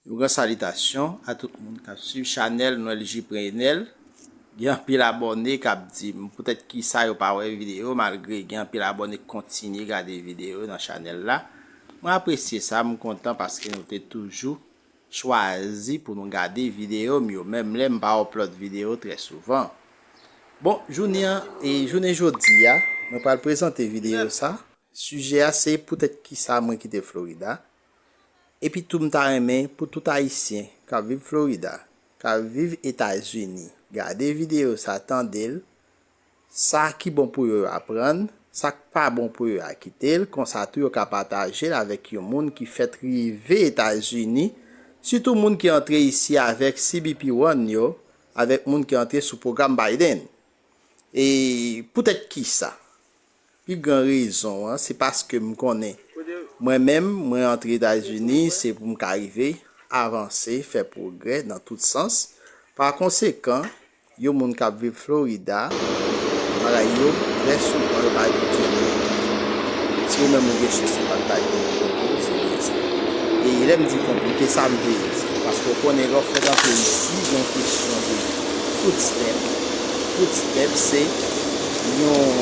Yon gran salitasyon a tout moun kap swiv chanèl Noelgie Prenelle, gen anpil abòne kap dim poutèt kisa yo pa wè videyo yo malgre gen anpil abòne k kontinye gade videyo yo nan chanèl la, mwen apresye sa m kontan paske nou te toujou chwazi pou nou gade videyo m yo menm lè m pa upload videyo trè souvan. Bon jounen an e jounen jodi a mwen pral prezante videyo sa sijè a se poutèt kisa mwen kite Florida Epi tou m ta renmen pou tout ayisyen k ap viv Florida, k ap viv Etazini gade videyo sa tande l, sa ki bon pou yo yo aprann, sa k pa bon pou yo a kite l konsa tou yo ka pataje l avèk yon moun ki fèt rive Etazini sitou moun ki antre isi avèk CBP One yo avèk moun ki antre sou pwogram Biden e poutèt kisa Pi gran rezon an se paske m konnen mwen menm mwen antre Etazini se pou m ka rive avanse, fè pwogrè nan tout sans. Pa konsekan, yon moun k ap viv Florida, bagay yo trè souvan yo pa gen djòb yo vin vini. Si ou menm ou gen chans ou pa t bay kòb pou konte w, se byen sa. E lè m di konte w, se sa m vle di. Paske ou konnen lè w fèk antre isi gen yon kesyon de food stamp. Footstep se yon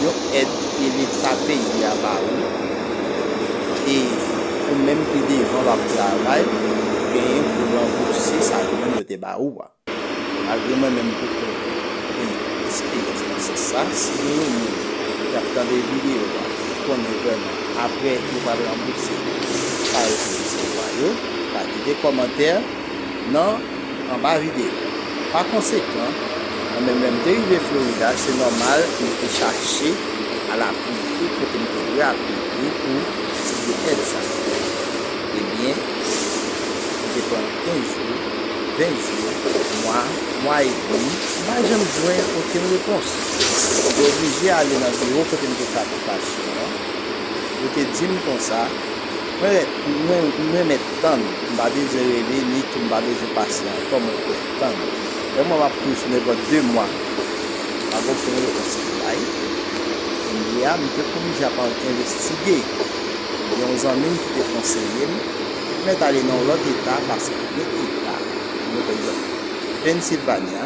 yon èd ke leta peyi a ba ou e ou menm pi devan w ap travay ou genyen pou ranbouse sa yo menm yo te ba ou a. Malgre mwen menm m poko gen esperyans nan sans sa, si gen yon moun ki ap tande videyo a ki konnen vrèman aprè yo pral ranbouse sa yo te resevwa yo, ka kite kòmantè. nan anba videyo. Pa konsekan, mwen menm lè m te rive Florida, se nòmal pou m te chache al aplike kote m te dwe aplike pou sibye èd sa yo. Ebyen, m te pran 15 jou, 20 jou, mwa, mwa edmi, m pa janm jwenn okenn repons. M te oblije ale nan biwo kote m te fè aplikasyon an, yo te di m konsa, Mwen renmen tann, m pa bezwen rele ni tou m pa bezwen pasyan ankò mwen kwè tann. Yon mwa m ap kouri sou nèpòt 2 mwa pa gen okenn repons ki bay. Kounye a m te kouri ja pa al envestige. Gen yon zanmi m ki te konseye m pou m mèt ale nan yon lòt eta paske gen eta mwen pa egzanp Pennsilvanya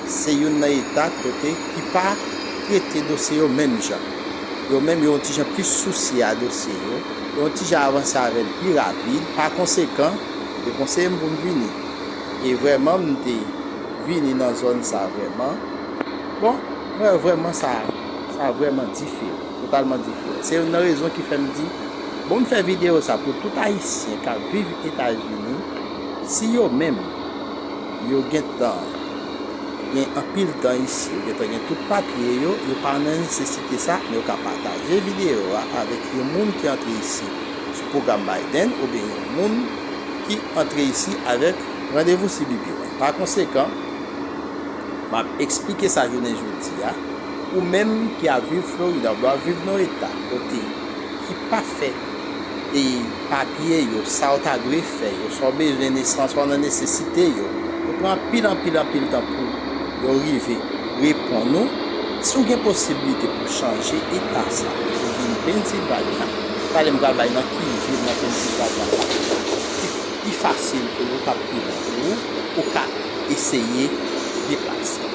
se youn nan eta kote ki pa trete dosye yo menm jan. yo menm yo yon ti jan plis sousye a dosye yo, yo yon ti jan avanse avè l pi rapid. Pa konsekan, yo te konseye m pou m vini. E vrèman m te vini nan zòn sa vrèman. Bon, mwen wè vrèman sa sa vrèman diferan, totalman diferan. Se youn nan rezon ki fè m di, bon m fè videyo sa pou tout Ayisyen k ap viv Etazini, si yo menm yo gentan. Gen anpil tan isi, yo gentan gen tout papye yo, yo pa nan nesesite sa, men yo ka pataje videyo a avèk yon moun ki antre isi sou pwogram Biden oubyen yon moun ki antre isi avèk. Randevou si BBY. Pakonsekan, m ap esplike sa jounen jodi a, ou menm ki ap viv Florida, oubyen w ap viv nan yon eta kote ki pa fè. e papye yo, sa ou ta dwe fè yo, sa ou bezwen nesans, sa ou nan nesesite yo. Yo pran anpil, anpil, anpil tan pou yo rive reponn ou. Si ou gen posiblite pou w chanje eta sa pou ou vin Pennsilvanya, pale m pral bay nan ki vil nan Pennsilvanya sa ki pi fasil pou ou, k ap pi bon pou ou, ou ka eseye deplase.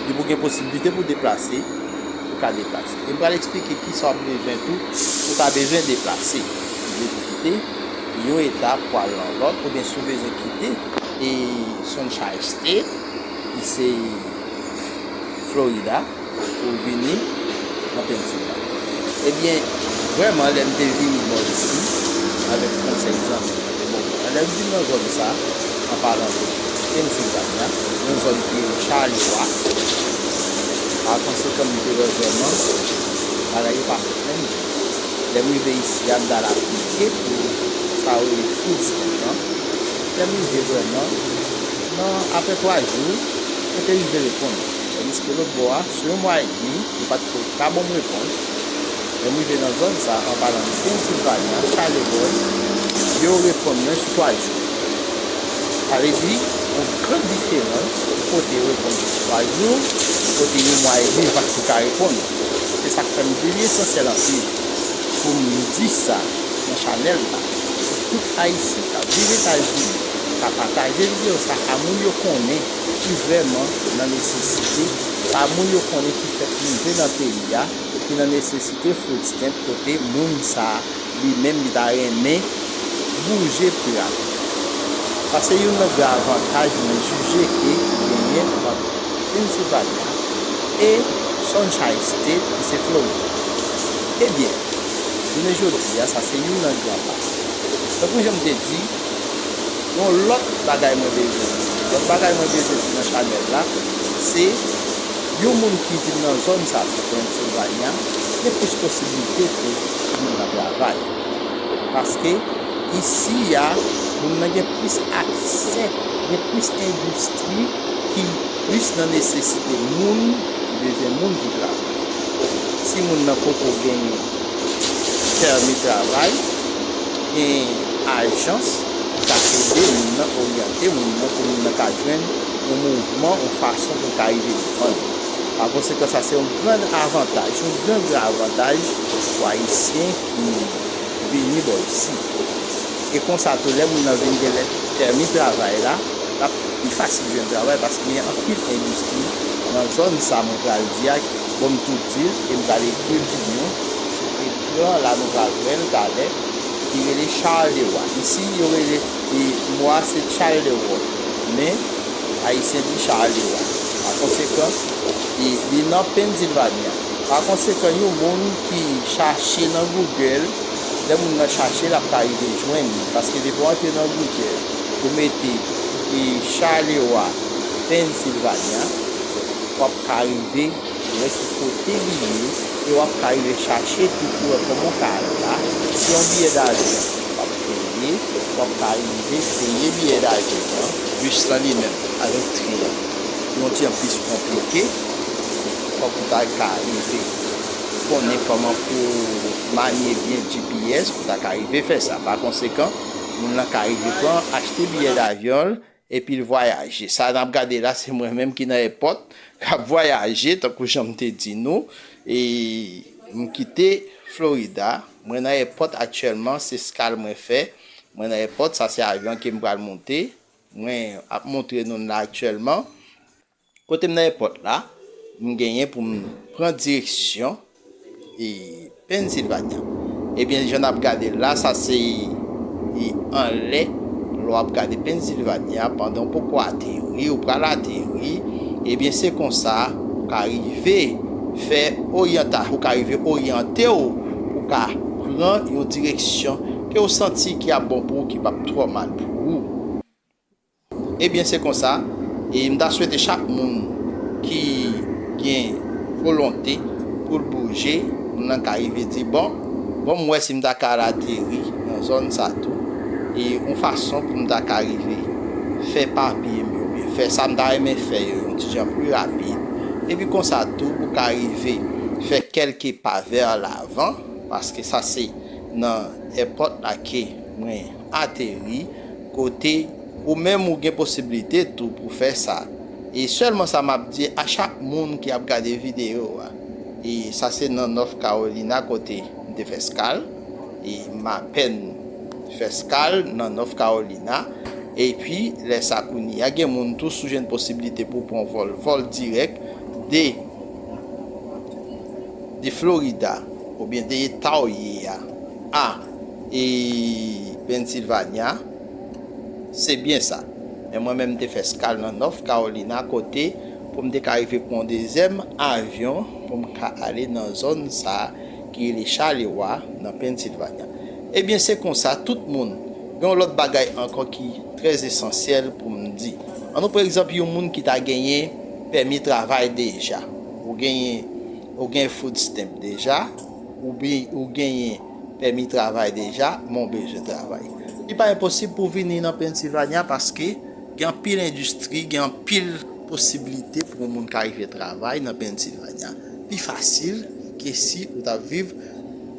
Depi ou gen posiblite pou w deplase, ou ka deplase. Yo pral eksplike kisa w ap bezwen tou si w ta bezwen deplase, si w bezwen kite yon eta pou al nan lòt oubyen si w bezwen kite Sunshine State ki se Florida pou w vini nan Pennsylvania. Ebyen vrèman lè m te vini bò isi avèk konsèy zanmi m yo te bon mwen an lè m vin nan zòn sa. Anpalan de Pennsilvanya, yon zòn ki rele Charleroy. Pa konsekan, m te wè vrèman bagay yo pa fèt menm jan. Lè m rive isi a, m t al aplike pou sa yo rele food stamp lan. Lè m rive vrèman, nan apre twa jou, yo te rive reponn mwen. Tandiske lòtbò a, sou yon mwa edmi, yo pa t ko ka ban m repons. Lè m rive nan zòn sa, an palan de Pennsilvanya, Charlevoix, yo repon mwen sou 3 jou. Sa vle di, yon gran diferans pou kote yo repon sou 3 jou, pou kote yon mwa edmi vat yo ka repon ou. Se sa k fè m vle li esansyèl anpil pou m di sa nan chanèl la, pou tout Ayisyen k ap viv Etazini ka pataje videyo sa a moun yo konnen. ki vrèman nan nesesite, pa moun yo konnen ki fèk rive nan peyi a, ki nan nesesite food stamp kote moun sa li menm li ta renmen bouje pri a tonbe. Sa se youn nan gwo avantaj mwen jije ke genyen ant Pennsylvania e Sunshine State ki se Florida. Ebyen, jounen jodi a sa se youn nan gran pa. Tankou jan m te di. Yon lòt bagay mwen vle di. Lòt bagay mwen vle di nan chanèl la, se yon moun ki vin nan zòn sa, tankou Pennsilvanya, gen plis posiblite ke pou moun nan travay. Paske, isi a, moun nan gen plis aksè, gen plis endistri ki plis nan nesesite moun, ki bezwen moun pou travay. Si moun nan poko genyen pèmi travay, Gen ajans ki ka ede moun nan, oryante moun nan pou moun nan ka jwenn yon mouvman, yon fason pou l ka rive devan li. Pa konsekan, sa se yon gran avantaj, yon gran gran avantaj pou Ayisyen ki vini bò isi. E konsa tou, lè moun nan vin gen lèt pèmi travay la, l ap pi fasil jwenn travay paske gen anpil endistri nan zòn sa mwen pral di a, bon m tou di l e m pral ekri l pi byen. Pran la nou pral wèl talè ki rele Charles de Roy isi yo rele e mo a se Tchal de Wò men ayisyen di Charles de Roy pa konsekan e li nan Pennsilvanya pa konsekan yon moun ki chache nan Google lè moun nan chache l ap ka rive jwenn li paske depi w antre nan Google ou mete e Charles de Roy Pennsilvanya w ap ka rive wè ki kote li ye e wap ka rive chache tou pou wè kòman w ka al la, se yon biyè davyon wap peye, wap ka rive peye biyè davyon an, bis lan li menm avèk tren an yon ti an plis konplike, fòk ou ta ka rive konnen kòman pou w manye byen GPS pou ta ka rive fè sa, pa konsekan moun lan ka rive pran achte biyè davyon l Epi l vwayaje. Sa n ap gade la se mwen menm ki nan èpòt, k ap vwayaje tankou jan m te di nou. E m kite Florida, mwen nan èpòt aktyèlman, se skal mwen fè. Mwen nan èpòt, sa se avyon ke m pral monte. Mwen ap montre nou l la aktyèlman. Kote m nan èpòt la, m genyen pou m pran direksyon Pennsylvania. Ebyen jan n ap gade l la, sa se anlè, lè w ap gade Pennsylvania pandan w poko ateri, ou pral ateri, ebyen se konsa ou ka rive fè oryanta, ou ka rive oryante w pou w ka pran yon direksyon ke w santi ki ap bon pou ou, ki p ap twò mal pou ou. Ebyen se konsa e mta swete chak moun ki gen volonte poul bouje moun lan ka rive di bon bon m wè si mta ka al ateri nan zòn sa tou e yon fason pou mta ka rive fè papye m yo oubyen fè sa mta renmen fè yo yon ti jan pli rapid epi konsa tou ou ka rive fè kèlke pa vè lavan paske sa se nan èpòt la ke mwen ateri kote ou menm ou gen posibilite tou pou fè sa. E sèlman sa map di a chak moun ki ap gade video a e sa se nan North Carolina kote m te fè skal e m apèn fè skal nan North Carolina epi lè sa kounyea gen moun tou sou jwenn posibilite pou pran vòl vòl dirèk de de Florida oubyen de eta w ye a. A E Pennsylvania Se byen sa. Men mwen menm m te fè eskal nan North Carolina kote pou m te ka rive pran yon dezyèm avyon pou m ka ale nan zòn sa a ki rele Chalewa nan Pennsylvania. Ebyen se konsa tout moun. Gen yon lòt bagay ankò ki trè esansyèl pou m di. An nou pran egzanp yon moun ki ta genyen pèmi travay deja. Ou genyen ou gen food stamp deja. Ou genyen pèmi travay deja? Men w bezwen travay. Li pa enposib pou w vini nan Pennsylvania paske gen anpil endistri, gen anpil posiblite pou yon moun ka rive travay nan Pennsylvania. Pi fasil ke si ou ta viv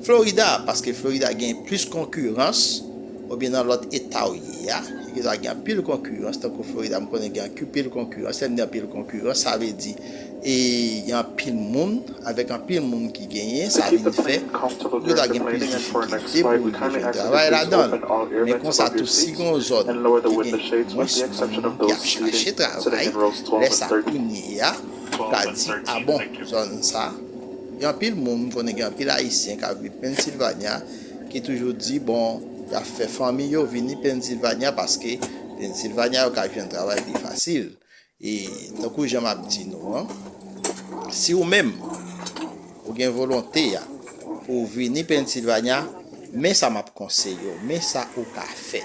Florida paske Florida genyen plis konkirans oubyen nan lòt eta ou ye a. Gen dwa gen anpil konkirans tankou Florida m konnen gen anpil konkirans. Lè m di anpil konkirans sa vle di. E gen anpil moun, avèk anpil moun ki genyen, sa vin fè, pou yo ta gen plis difikilte pou rive jwenn travay ladan l. Men konsa tou si gen yon zòn ki gen mwens moun ki ap chache travay, lè sa kounye a, ou ka di, a bon, zòn sa, gen anpil moun, m konnen gen anpil Ayisyen k ap viv Pennsilvanya, ki toujou di, bon, y ap fè fanmi yo vini Pennsilvanya, paske Pennsilvanya yo ka jwenn travay pi fasil. E tankou jan m ap di nou an, si ou menm ou gen volonte a pou ou vini Pennsylvania, men sa m ap konseye ou, men sa ou ka fè.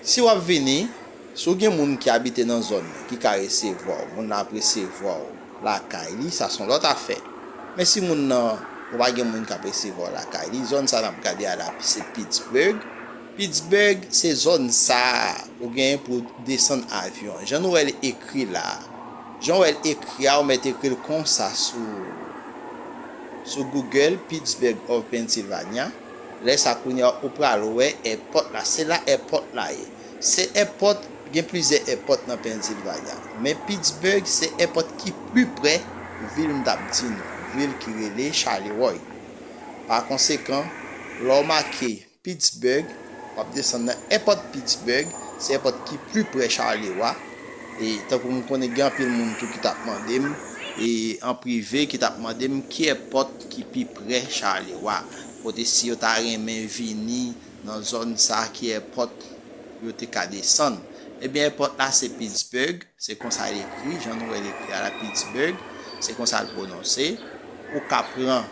Si w ap vini, si ou gen moun ki abite nan zòn nan ki ka resevwa ou, moun nan ap resevwa ou lakay li, sa se yon lòt afè. Men si moun nan, ou pa gen moun k ap resevwa ou lakay li, zòn sa n ap gade a la se Pittsburgh. Pittsburgh se zòn sa a ou genyen pou w desann avyon an. Jan nou wè l ekri la a. Jan w wè l ekri a ou mèt ekri l konsa sou sou Google, Pittsburgh of Pennsylvania. Lè sa kounye a ou pral wè èpòt la. Se la èpòt la ye. Se èpòt, gen plizyè èpòt nan Pennsylvania. Men Pittsburgh se èpòt ki pli pre vil m t ap di nou an. Vil ki rele Charleroi. Pakonsekan, lè w make. Pittsburgh, w ap desann nan èpòt Pittsburgh, se èpòt ki pli pre Charleroy, e tankou m konnen gen anpil moun tou ki t ap mande m, e an prive ki t ap mande m ki èpòt ki pi pre Charleroy, kote si yo ta renmen vini nan zòn sa ki èpòt yo te ka desann. Ebyen èpòt la se Pittsburgh, se konsa l ekri, jan nou wè l ekri a la Pittsburgh, se konsa l pwononse. Ou ka pran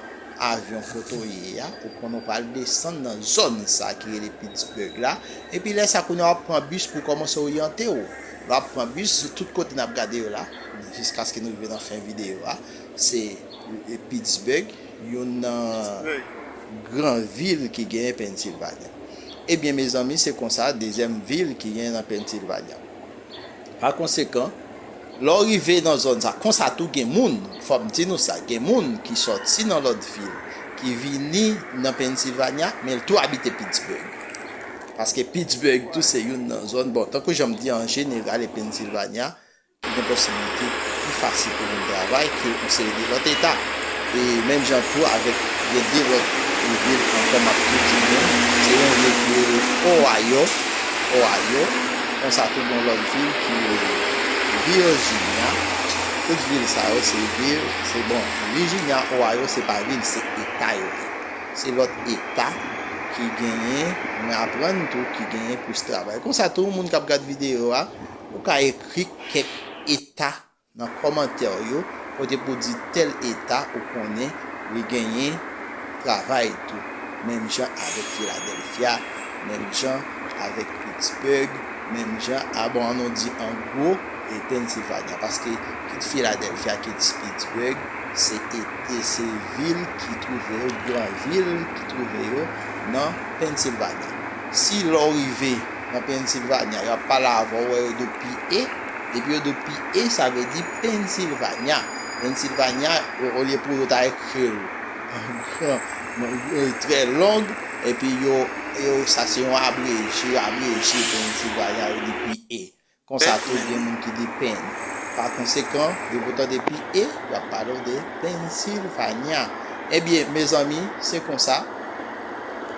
avyon kote w ye a, ou konn ou pral desann nan zòn sa ki rele Pittsburgh la, epi lè sa kounye a w ap pran bis pou w kòmanse oryante w. Lè w ap pran bis, tout kote n ap gade yo la, jiskaske nou rive nan fen videyo a, se Pittsburgh, youn nan gran vil ki genyen Pennsilvanya. Ebyen mezanmi se konsa dezyèm vil ki genyen nan Pennsilvanya. Pa konsekan, lè w rive nan zòn sa, konsa tou gen moun, fò m di nou sa, gen moun ki sòti nan lòt vil, ki vini nan Pennsilvanya, men l tou abite Pittsburgh. Paske Pittsburgh tou se youn nan zòn, bon, tankou jan m di an jeneral e Pennsilvanya, ki gen posiblite pi fasil pou moun travay ke yon seri de lòt eta. E menm jan tou avèk gen de lòt vil ankò m ap tou di nou, se yon vil ki rele Ohio, Ohio. Konsa tou gen lòt vil ki rele Virginia, tout vil sa yo se vil, se bon, Virginia, Ohio se pa vil se eta yo ye. Se lòt eta ki genyen, mwen aprann tou ki genyen plis travay. Konsa tou moun k ap gad videyo a, ou ka ekri kèk eta Nan kòmantè w yo kote pou di tèl eta ou konnen li genyen travay tou menm jan avèk Philadelphia menm jan avèk Pittsburgh menm jan a bon an nou di an gwo e Pennsylvania paske kit Philadelphia kit Pittsburgh se et se vil ki twouve yo gran vil ki twouve yo nan Pennsylvania si lè w rive nan Pennsylvania. Yo ap pale avè w, wè yo do PA. Depi yo do PA, sa vle di Pennsylvania. Pennsylvania, olye pou yo ta ekri l an gran, trè long, epi yo, yo, sa se yon abreje, yo abreje Pennsylvania, yo di PA. Konsa tou gen moun ki di Peny. Pa konsekan, depi ou tande pi e, y ap pale w de Pennsilvanya. Ebyen, mezanmi, se konsa.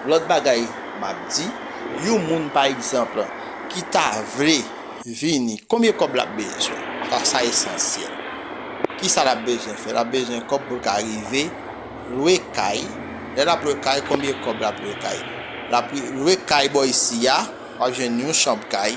Lòt bagay m ap di, yon moun pa egzanp ki ta vle vini, konbyen kòb l ap bezwen? Sa, sa esansyèl. Ki sa l ap bezwen fè? L ap bezwen kòb pou l ka rive lwe kay. Lè l ap lwe kay, konbyen kòb l ap lwe kay? L ap lwe kay bò isi a, w ap jwenn yon chanb kay.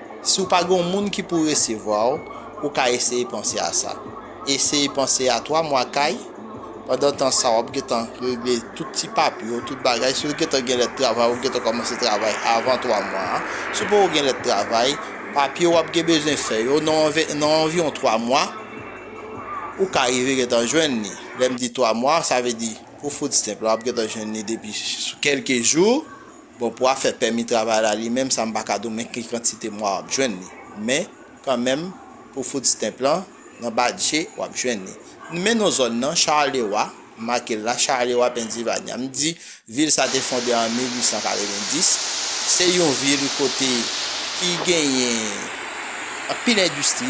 Si w pa gen yon moun ki pou resevwa w, ou ka eseye panse a sa. Eseye panse a twa mwa kay, pandan tan sa w ap gen tan regle tout ti papye w, tout bagay. Si w gen tan gen lèt travay, ou gen tan kòmanse travay avan twa mwa a. Si w poko gen lèt travay, papye w ap gen bezwen fè yo, nan anviwon twa mwa, ou ka rive gen tan jwenn li. Lè m di twa mwa, sa vle di pou food stamp la, w ap gen tan jwenn li depi sou kèlke jou. Bon pou afè pèmi travay la li menm sa m pa ka di w men ki kantite mwa w ap jwenn li. Men, kan menm, pou food stamp lan, nan badje, w ap jwenn li. N men non zòn nan, Charlewa, m make l la, Charlewa Pennsilvanya. M di, vil sa te fonde an 1890. Se yon vil kote ki genyen. Anpil endistri,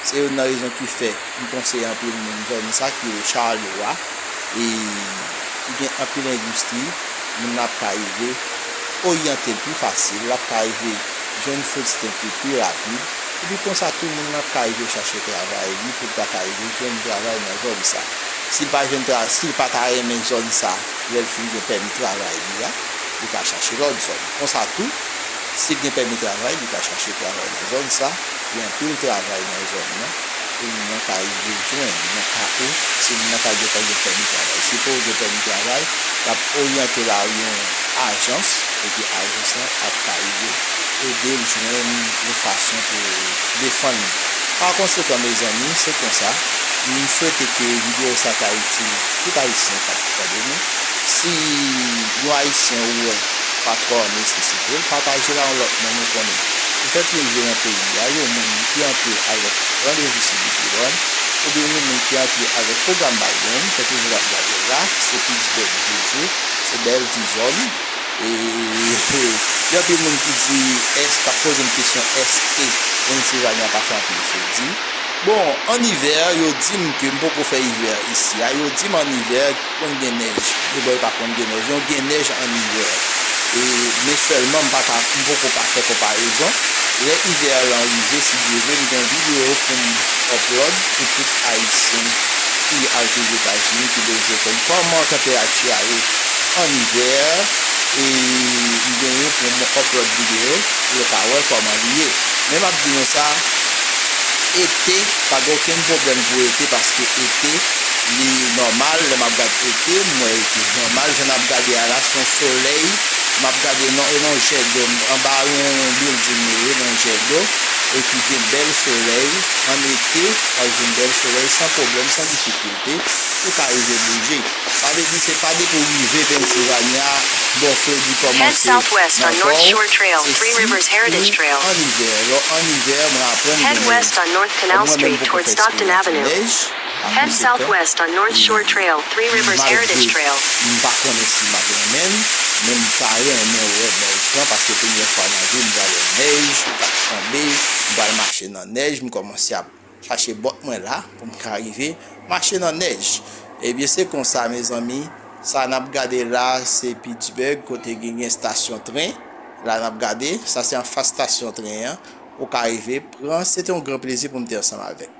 se youn nan rezon ki fè m konseye anpil moun zòn sa ki rele Charlot a e ki gen anpil endistri, moun nan ap ka rive oryante l pi fasil, l ap ka rive jwenn food stamp li pi rapid, epi konsa tou moun nan ap ka rive chache travay li pou l ta ka rive jwenn travay nan zòn sa. Si l pa jwenn travay, si l pa ta renmen zòn sa lè l fin gen pèmi travay li a, li ka chache lòt zòn. Konsa tou. Sil gen pèmi travay li ka chache travay nan zòn sa, gen anpil travay nan zòn nan pou moun nan ka rive jwenn nan ka ou si moun nan pa gentan gen pèmi travay. Si pouw gen pèmi travay wap oryante la yon ajans epi ajans lan ap ka rive edel jwenn yon fason pou defann li. Pa konsekan mezanmi se konsa, m swete ke video sa ta itil tout ayisyen kap tande nou. Si yon ayisyen ou wè. Patro an nesesite l pataje la yon lot moun ou konnen ki fè pyeze nan peyi a yon moun ki antre avek randevou cdprod oubyen yon moun ki antre avek program Biden fè pyeze wap gadel la se plis bèl jojo se bèl tizom eehh gen anpil moun ki di èske kap pozem kesyon èske Pennsilvanya pa fè anpil fredi bon an ivè yo dim ke m poko fè ivè isi a yo dim an ivè Konn gen nèj e bò yo pa konn gen nèj non gen nèj an ivè e men sèlman m paka m poko ka fè konparezon lè ivè lan rive si Dye vle m gen yon video pou m upload pou tout ayisyen ki al viv etazini ki bezwen konn kòman tanperati a ye an ivè e m genyen pou m upload video pou yo ka wè kòman li ye men map di nou sa ete pa gen okenn pwoblèm pou ete paske ete. li nòmal lè map gad ete m wè ete nòmal jan nap gade a la se yon solèy map gade non e non jè do m anba yon bilding mwen ye nan jè do epi gen bèl solèy an ete wap jwenn bèl solèy san pwoblèm san difikilte ou ka rive bouje sa vle di se pa depi w rive Pennsylvania bò fredi kòmanse nan kò w se si ou an ivè lè w an ivè mwen aprann gen nèj kòm mwen menm m poko fè eksperyans nèj. Head southwest on North Shore Trail, Three Rivers Heritage Trail. Malgre m pa konnen si map renmen l, men m ta renmen wè nèj lan paske premyè fwa nan vi m pral wè nèj kap tonbe, m pral mache nan nèj, m kòmanse ap chache bòt mwen la pou m ka rive mache nan nèj. Ebyen se konsa mezanmi, sa nap gade la se Pittsburgh kote gen gen stasyon tren, la nap gade, sa se anfas stasyon tren an, ou ka rive pran, se te yon gran plezi pou m te ansanm avèk nou.